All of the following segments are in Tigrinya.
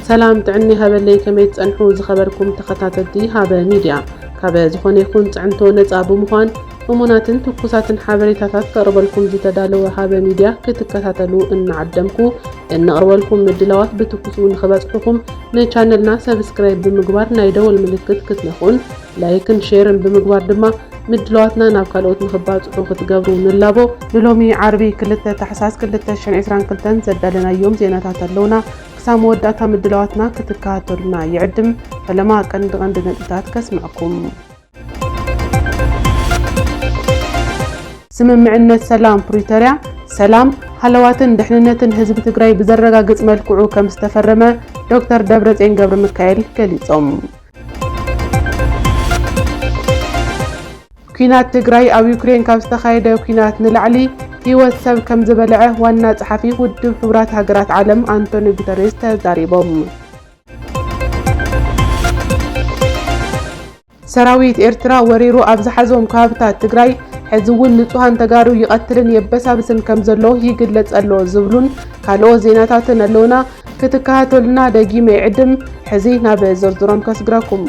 ሰላም ጥዕና ይሃበለይ ከመይ ትጸንሑ ዝኸበርኩም ተኸታተልቲ ሃበ ሚድያ ካበ ዝኾነ ይኹን ጽዕንቶ ነጻ ብምዃን እሙናትን ትኩሳትን ሓበሬታታት ከቕርበልኩም ዝተዳለወ ሃበ ሚድያ ክትከታተሉ እናዓደምኩ እንቕርበልኩም ምድላዋት ብትኩሱ ንኽበጽሑኹም ንቻነልና ሰብስክራይብ ብምግባር ናይ ደወል ምልክት ክትነኹን ላይክን ሼርን ብምግባር ድማ ምድላዋትና ናብ ካልኦት ንኽባፅሑ ክትገብሩ ንላቦ። ንሎሚ ዓርቢ ክልተ ታሕሳስ ክልተ ሽሕን ዕስራን ክልተን ዘዳለናዮም ዜናታት ኣለውና። ክሳብ መወዳእታ ምድላዋትና ክትከታተሉና ይዕድም። ፈለማ ቀንዲ ቀንዲ ነጥብታት ከስምዐኩም። ስምምዕነት ሰላም ፕሪቶርያ ሰላም፣ ሃለዋትን ድሕንነትን ህዝቢ ትግራይ ብዘረጋግፅ መልክዑ ከምዝተፈረመ ዶክተር ደብረፅዮን ገብረሚካኤል ገሊፆም። ኲናት ትግራይ ኣብ ዩክሬን ካብ ዝተኻየደ ኲናት ንላዕሊ ህይወት ሰብ ከም ዝበልዐ ዋና ጸሓፊ ውድብ ሕቡራት ሃገራት ዓለም ኣንቶኒ ጉተሬስ ተዛሪቦም። ሰራዊት ኤርትራ ወሪሩ ኣብ ዝሓዞም ከባብታት ትግራይ ሕዚ እውን ንጹሃን ተጋሩ ይቐትልን የበሳብስን ከም ዘሎ ይግለጽ ኣሎ ዝብሉን ካልኦት ዜናታትን ኣለውና። ክትከታተሉና ደጊመ ይዕድም። ሕዚ ናብ ዝርዝሮም ከስግረኩም።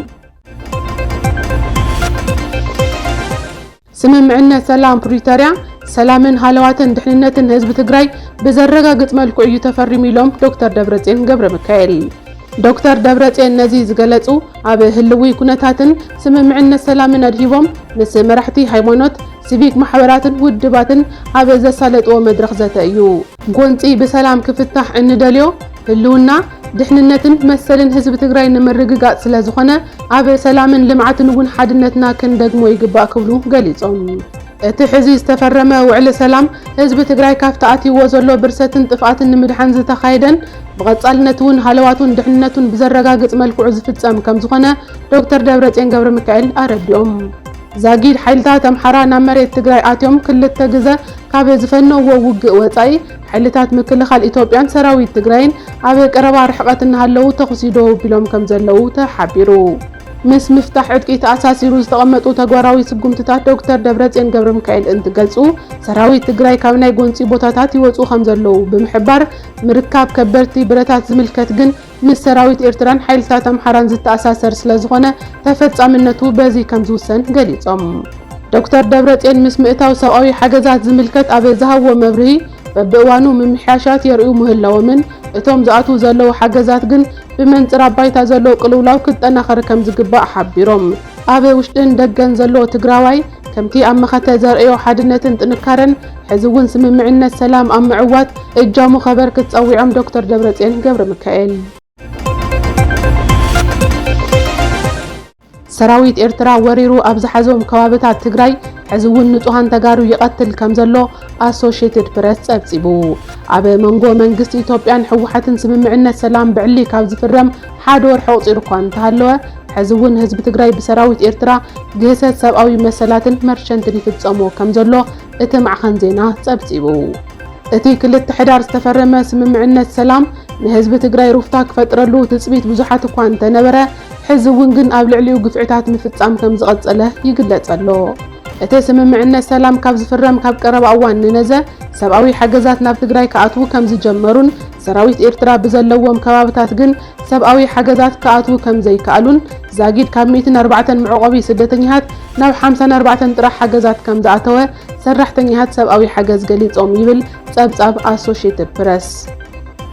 ስምምዕነት ሰላም ፕሪቶርያ ሰላምን ሃለዋትን ድሕንነትን ህዝቢ ትግራይ ብዘረጋግፅ መልክዑ እዩ ተፈሪሙ ኢሎም ዶክተር ደብረፅዮን ገብረ ሚካኤል። ዶክተር ደብረፅዮን ነዚ ዝገለፁ ኣብ ህልዊ ኩነታትን ስምምዕነት ሰላምን ኣድሂቦም ምስ መራሕቲ ሃይማኖት፣ ሲቪክ ማሕበራትን ውድባትን ኣብ ዘሳለጥዎ መድረኽ ዘተ እዩ። ጎንፂ ብሰላም ክፍታሕ እንደልዮ ህልውና፣ ድሕንነትን መሰልን ህዝቢ ትግራይ ንምርግጋፅ ስለዝኾነ ኣብ ሰላምን ልምዓትን እውን ሓድነትና ክንደግሞ ይግባእ ክብሉ ገሊፆም። እቲ ሕዚ ዝተፈረመ ውዕሊ ሰላም ህዝቢ ትግራይ ካፍቲ ኣትይዎ ዘሎ ብርሰትን ጥፍኣትን ንምድሓን ዝተኻየደን ብቐፃልነት እውን ሃለዋቱን ድሕንነቱን ብዘረጋግፅ መልክዑ ዝፍፀም ከምዝኾነ ዶክተር ደብረፅዮን ገብረሚካኤል ኣረዲኦም። ዛጊድ ሓይልታት ኣምሓራ ናብ መሬት ትግራይ ኣትዮም ክልተ ግዘ ካብ ዝፈነውዎ ውግእ ወፃኢ ሓይልታት ምክልኻል ኢትዮጵያን ሰራዊት ትግራይን ኣብ ቀረባ ርሕቐት እናሃለዉ ተኹሲ ደው ኣቢሎም ከምዘለዉ ተሓቢሩ። ምስ ምፍታሕ ዕጥቂ ተኣሳሲሩ ዝተቐመጡ ተግባራዊ ስጉምትታት ዶክተር ደብረፅዮን ገብረሚካኤል እንትገልፁ፣ ሰራዊት ትግራይ ካብ ናይ ጎንፂ ቦታታት ይወፁ ከምዘለዉ ብምሕባር፣ ምርካብ ከበድቲ ብረታት ዝምልከት ግን ምስ ሰራዊት ኤርትራን ሓይልታት ኣምሓራን ዝተኣሳሰር ስለዝኾነ ተፈጻምነቱ በዚ ከምዝውሰን ገሊጾም። ዶክተር ደብረጼን ምስ ምእታው ሰብኣዊ ሓገዛት ዝምልከት ኣብ ዝሃብዎ መብርሂ በብእዋኑ ምምሕያሻት የርእዩ ምህላዎምን እቶም ዝኣትዉ ዘለዉ ሓገዛት ግን ብመንጽር ኣብ ባይታ ዘሎ ቅልውላው ክጠናኸር ከምዝግባእ ሓቢሮም። ኣብ ውሽጥን ደገን ዘሎ ትግራዋይ ከምቲ ኣብ መኸተ ዘርእዮ ሓድነትን ጥንካረን ሕዚ እውን ስምምዕነት ሰላም ኣብ ምዕዋት እጃሙ ከበርክት ጸዊዖም ዶክተር ደብረጽዮን ገብረሚካኤል። ሰራዊት ኤርትራ ወሪሩ ኣብ ዝሓዞም ከባብታት ትግራይ ሕዚ እውን ንጹሃን ተጋሩ ይቐትል ከም ዘሎ ኣሶሽየትድ ፕረስ ጸብጺቡ። ኣብ መንጎ መንግስቲ ኢትዮጵያን ህወሓትን ስምምዕነት ሰላም ብዕሊ ካብ ዝፍረም ሓደ ወርሒ ኣቑጺሩ እኳ እንተሃለወ ሕዚ እውን ህዝቢ ትግራይ ብሰራዊት ኤርትራ ግህሰት ሰብኣዊ መሰላትን መርሸንትን ይፍፀሞ ከም ዘሎ እቲ ማዕኸን ዜና ፀብፂቡ። እቲ ክልተ ሕዳር ዝተፈረመ ስምምዕነት ሰላም ንህዝቢ ትግራይ ሩፍታ ክፈጥረሉ ትፅቢት ብዙሓት እኳ እንተነበረ ሕዚ እውን ግን ኣብ ልዕሊኡ ግፍዕታት ምፍፃም ከም ዝቐፀለ ይግለፅ ኣሎ። እቲ ስምምዕነት ሰላም ካብ ዝፍረም ካብ ቀረባ እዋን ንነዘ ሰብኣዊ ሓገዛት ናብ ትግራይ ክኣትዉ ከም ዝጀመሩን ሰራዊት ኤርትራ ብዘለዎም ከባብታት ግን ሰብኣዊ ሓገዛት ክኣትዉ ከም ዘይከኣሉን ዛጊድ ካብ ሚእትን ኣርባዕተን መዕቖቢ ስደተኛታት ናብ ሓምሳን ኣርባዕተን ጥራሕ ሓገዛት ከም ዝኣተወ ሰራሕተኛታት ሰብኣዊ ሓገዝ ገሊጾም ይብል ጸብጻብ ኣሶሽየትድ ፕረስ።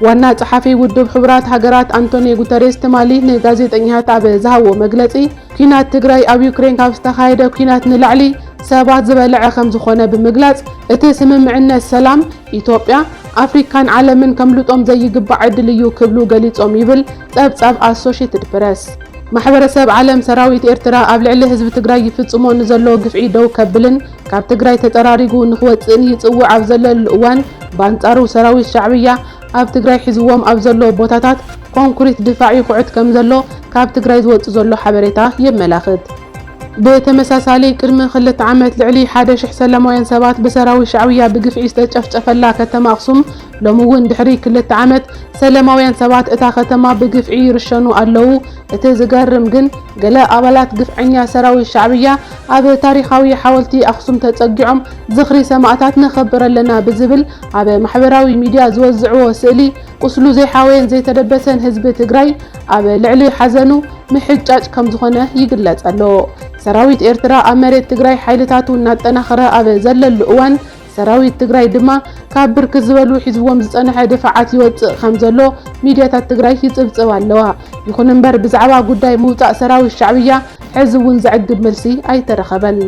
ዋና ጸሓፊ ውድብ ሕቡራት ሃገራት ኣንቶንዮ ጉተሬስ ትማሊ ንጋዜጠኛታት ኣብ ዝሃብዎ መግለጺ ኲናት ትግራይ ኣብ ዩክሬን ካብ ዝተኻየደ ኲናት ንላዕሊ ሰባት ዝበልዐ ከም ዝኾነ ብምግላጽ እቲ ስምምዕነት ሰላም ኢትዮጵያ፣ ኣፍሪካን ዓለምን ከምልጦም ዘይግባእ ዕድል እዩ ክብሉ ገሊፆም ይብል ፀብፃብ ኣሶሼትድ ፕረስ። ማሕበረሰብ ዓለም ሰራዊት ኤርትራ ኣብ ልዕሊ ህዝቢ ትግራይ ይፍፅሞ ንዘሎ ግፍዒ ደው ከብልን ካብ ትግራይ ተፀራሪጉ ንክወፅእን ይፅውዕ ኣብ ዘለሉ እዋን ብኣንፃሩ ሰራዊት ሻዕብያ ኣብ ትግራይ ሒዝዎም ኣብ ዘሎ ቦታታት ኮንኩሪት ድፋዕ ይኹዕት ከምዘሎ ካብ ትግራይ ዝወፅእ ዘሎ ሓበሬታ የመላኽት። ብተመሳሳሊ ቅድሚ ክልተ ዓመት ልዕሊ ሓደ ሽሕ ሰላማውያን ሰባት ብሰራዊት ሻዕብያ ብግፍዒ ዝተጨፍጨፈላ ከተማ ኣኽሱም ሎሚ እውን ድሕሪ ክልተ ዓመት ሰላማውያን ሰባት እታ ከተማ ብግፍዒ ይርሸኑ ኣለዉ። እቲ ዝገርም ግን ገለ ኣባላት ግፍዐኛ ሰራዊት ሻዕብያ ኣብ ታሪኻዊ ሓወልቲ ኣኽሱም ተፀጊዖም ዝኽሪ ሰማእታት ነኽብር ኣለና ብዝብል ኣብ ማሕበራዊ ሚድያ ዝወዝዕዎ ስእሊ ቁስሉ ዘይሓወየን ዘይተደበሰን ህዝቢ ትግራይ ኣብ ልዕሊ ሓዘኑ ምሕጫጭ ከምዝኾነ ይግለፅ ኣሎ። ሰራዊት ኤርትራ ኣብ መሬት ትግራይ ሓይልታቱ እናጠናኸረ ኣብ ዘለሉ እዋን ሰራዊት ትግራይ ድማ ካብ ብርክት ዝበሉ ሒዝዎም ዝፀንሐ ድፋዓት ይወፅእ ከምዘሎ ሚድያታት ትግራይ ይፅብፅባ ኣለዋ። ይኹን እምበር ብዛዕባ ጉዳይ ምውፃእ ሰራዊት ሻዕብያ ሕዚ እውን ዘዕግብ መልሲ ኣይተረኸበን።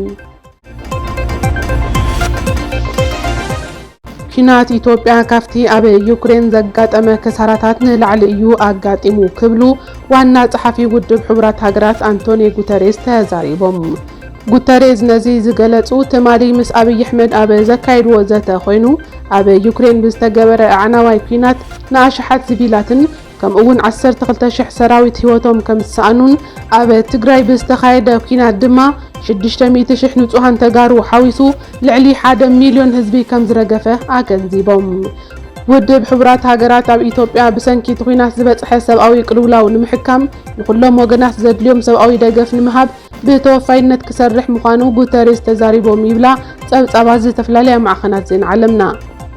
ኲናት ኢትዮጵያ ካብቲ ኣብ ዩክሬን ዘጋጠመ ክሳራታት ንላዕሊ እዩ ኣጋጢሙ ክብሉ ዋና ጸሓፊ ውድብ ሕቡራት ሃገራት ኣንቶኒ ጉተሬዝ ተዛሪቦም። ጉተሬዝ ነዚ ዝገለጹ ትማሊ ምስ ኣብይ ኣሕመድ ኣብ ዘካየድዎ ዘተ ኮይኑ ኣብ ዩክሬን ብዝተገበረ ኣዕናዋይ ኲናት ንኣሽሓት ሲቪላትን ከምኡ'ውን ዓሰርተ ክልተ ሽሕ ሰራዊት ህይወቶም ከምዝሰኣኑን ኣብ ትግራይ ብዝተኻየደ ኲናት ድማ ሽዱሽተ ሚእቲ ሽሕ ንፁሃን ተጋሩ ሓዊሱ ልዕሊ ሓደ ሚልዮን ህዝቢ ከምዝረገፈ ኣገንዚቦም። ውድብ ሕቡራት ሃገራት ኣብ ኢትዮጵያ ብሰንኪ እቲ ኲናት ዝበፅሐ ሰብኣዊ ቅልውላው ንምሕካም ንኹሎም ወገናት ዘድልዮም ሰብኣዊ ደገፍ ንምሃብ ብተወፋይነት ክሰርሕ ምዃኑ ጉተሬዝ ተዛሪቦም ይብላ ጸብጻባት ዝተፈላለያ ማዕኸናት ዜና ዓለምና።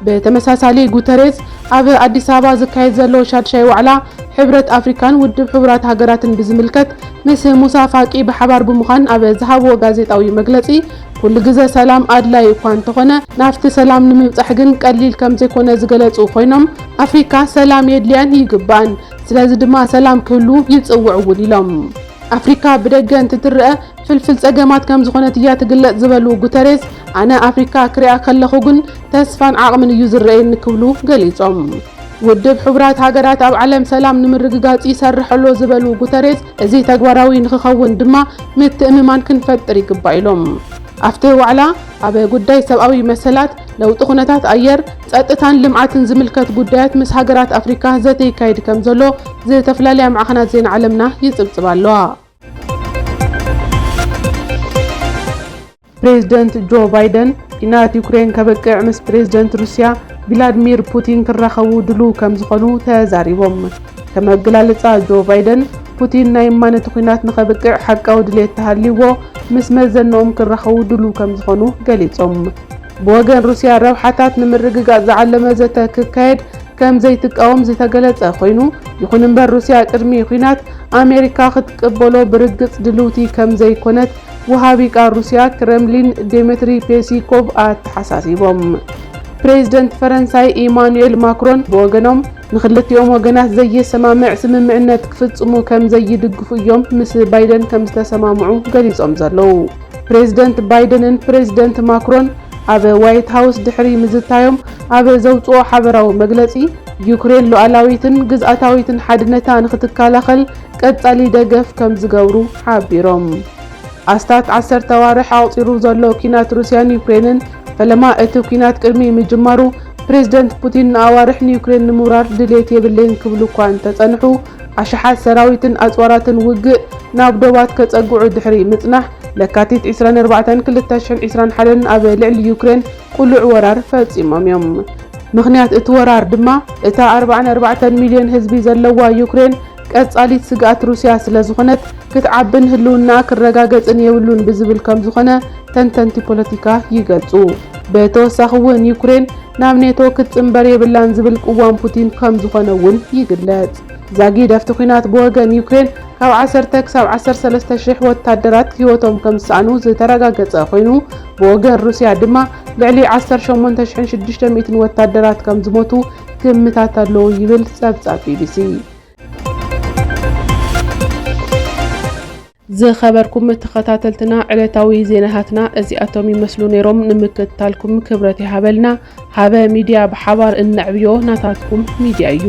ብተመሳሳሊ ጉተሬዝ ኣብ ኣዲስ ኣበባ ዝካየድ ዘሎ ሻድሻይ ዋዕላ ሕብረት ኣፍሪካን ውድብ ሕቡራት ሃገራትን ብዝምልከት ምስ ሙሳ ፋቂ ብሓባር ብምዃን ኣብ ዝሃብዎ ጋዜጣዊ መግለጺ ኩሉ ግዘ ሰላም ኣድላዪ እኳ እንተኾነ ናብቲ ሰላም ንምብፃሕ ግን ቀሊል ከምዘይኮነ ዝገለፁ ኮይኖም ኣፍሪካ ሰላም የድልያን ይግባእን ስለዚ ድማ ሰላም ክህሉ ይፅውዕ እውን ኢሎም። ኣፍሪካ ብደገ እንትትረኣ ፍልፍል ፀገማት ከምዝኾነት እያ ትግለፅ ዝበሉ ጉተሬዝ፣ ኣነ ኣፍሪካ ክሪኣ ከለኹ ግን ተስፋን ዓቕምን እዩ ዝረኣየኒ ክብሉ ገሊፆም። ውድብ ሕቡራት ሃገራት ኣብ ዓለም ሰላም ንምርግጋፅ ይሰርሕ ኣሎ ዝበሉ ጉተሬዝ፣ እዚ ተግባራዊ ንክኸውን ድማ ምትእምማን ክንፈጥር ይግባእ ኢሎም። ኣብቲ ዋዕላ ኣብ ጉዳይ ሰብኣዊ መሰላት፣ ለውጢ ኩነታት ኣየር፣ ጸጥታን ልምዓትን ዝምልከት ጉዳያት ምስ ሃገራት ኣፍሪካ ዘተ ይካየድ ከምዘሎ ዝተፈላለያ ማዕኸናት ዜና ዓለምና ይጽብጽባ ኣለዋ። ፕሬዝደንት ጆ ባይደን ኲናት ዩክሬን ከብቅዕ ምስ ፕሬዝደንት ሩስያ ቪላድሚር ፑቲን ክራኸቡ ድሉው ከምዝኾኑ ተዛሪቦም። ከም ኣገላልጻ ጆ ባይደን፣ ፑቲን ናይ እማን እቲ ኲናት ንኸብቅዕ ሓቃዊ ድሌት ተሃልይዎ ምስ መዘንኦም ክራኸቡ ድሉው ከም ዝኾኑ ገሊጾም። ብወገን ሩስያ ረብሓታት ንምርግጋጽ ዝዓለመ ዘተ ክካየድ ከም ዘይትቃወም ዝተገለጸ ኮይኑ፣ ይኹን እምበር ሩስያ ቅድሚ ኲናት ኣሜሪካ ክትቅበሎ ብርግጽ ድልውቲ ከም ዘይኮነት ወሃቢ ቃል ሩስያ ክረምሊን ዴሜትሪ ፔሲኮቭ ኣተሓሳሲቦም። ፕሬዚደንት ፈረንሳይ ኢማኑኤል ማክሮን ብወገኖም፣ ንክልቲኦም ወገናት ዘየሰማምዕ ስምምዕነት ክፍፅሙ ከም ዘይድግፉ እዮም ምስ ባይደን ከም ዝተሰማምዑ ገሊፆም ዘለዉ። ፕሬዝደንት ባይደንን ፕሬዝደንት ማክሮን ኣብ ዋይት ሃውስ ድሕሪ ምዝታዮም ኣብ ዘውፅኦ ሓበራዊ መግለፂ፣ ዩክሬን ሉኣላዊትን ግዝኣታዊትን ሓድነታ ንክትከላኸል ቀፃሊ ደገፍ ከም ዝገብሩ ሓቢሮም። ኣስታት ዓሰርተ ኣዋርሕ ኣቑጺሩ ዘሎ ኲናት ሩስያን ዩክሬንን፣ ፈለማ እቲ ኲናት ቅድሚ ምጅማሩ ፕሬዝደንት ፑቲን ንኣዋርሕ ንዩክሬን ንምውራር ድሌት የብለይን ክብሉ እኳ እንተጸንሑ፣ ኣሽሓት ሰራዊትን ኣጽዋራትን ውግእ ናብ ዶባት ከጸግዑ ድሕሪ ምጽናሕ፣ ለካቲት ዕስራን ኣርባዕተን ክልተ ሽሕን ዕስራን ሓደን ኣብ ልዕሊ ዩክሬን ቅሉዕ ወራር ፈጺሞም እዮም። ምኽንያት እቲ ወራር ድማ እታ ኣርብዓን ኣርባዕተን ሚልዮን ህዝቢ ዘለዋ ዩክሬን፣ ቀጻሊት ስግኣት ሩስያ ስለዝኾነት ክትዓብን ህልውናኣ ክረጋገጽን የብሉን ብዝብል ከምዝኾነ ተንተንቲ ፖለቲካ ይገልጹ። ብተወሳኺ እውን ዩክሬን ናብ ኔቶ ክትጽንበር የብላን ዝብል ቅዋም ፑቲን ከምዝኾነ እውን ይግለጽ። ዛጊድ ኣብቲ ኲናት ብወገን ዩክሬን ካብ ዓሰርተ ክሳብ ዓሰርተ ሰለስተ ሽሕ ወታደራት ህይወቶም ከምዝሰኣኑ ዝተረጋገጸ ኮይኑ ብወገን ሩስያ ድማ ልዕሊ ዓሰርተ ሸሞንተ ሽሕን ሽዱሽተ ሚእትን ወታደራት ከምዝሞቱ ግምታት ኣለዉ ይብል ጸብጻብ ቢቢሲ። ዝኸበርኩም ተኸታተልትና ዕለታዊ ዜናታትና እዚኣቶም ይመስሉ ነይሮም። ንምክትታልኩም ክብረት ይሃበልና። ሃበ ሚድያ ብሓባር እነዕብዮ ናታትኩም ሚድያ እዩ።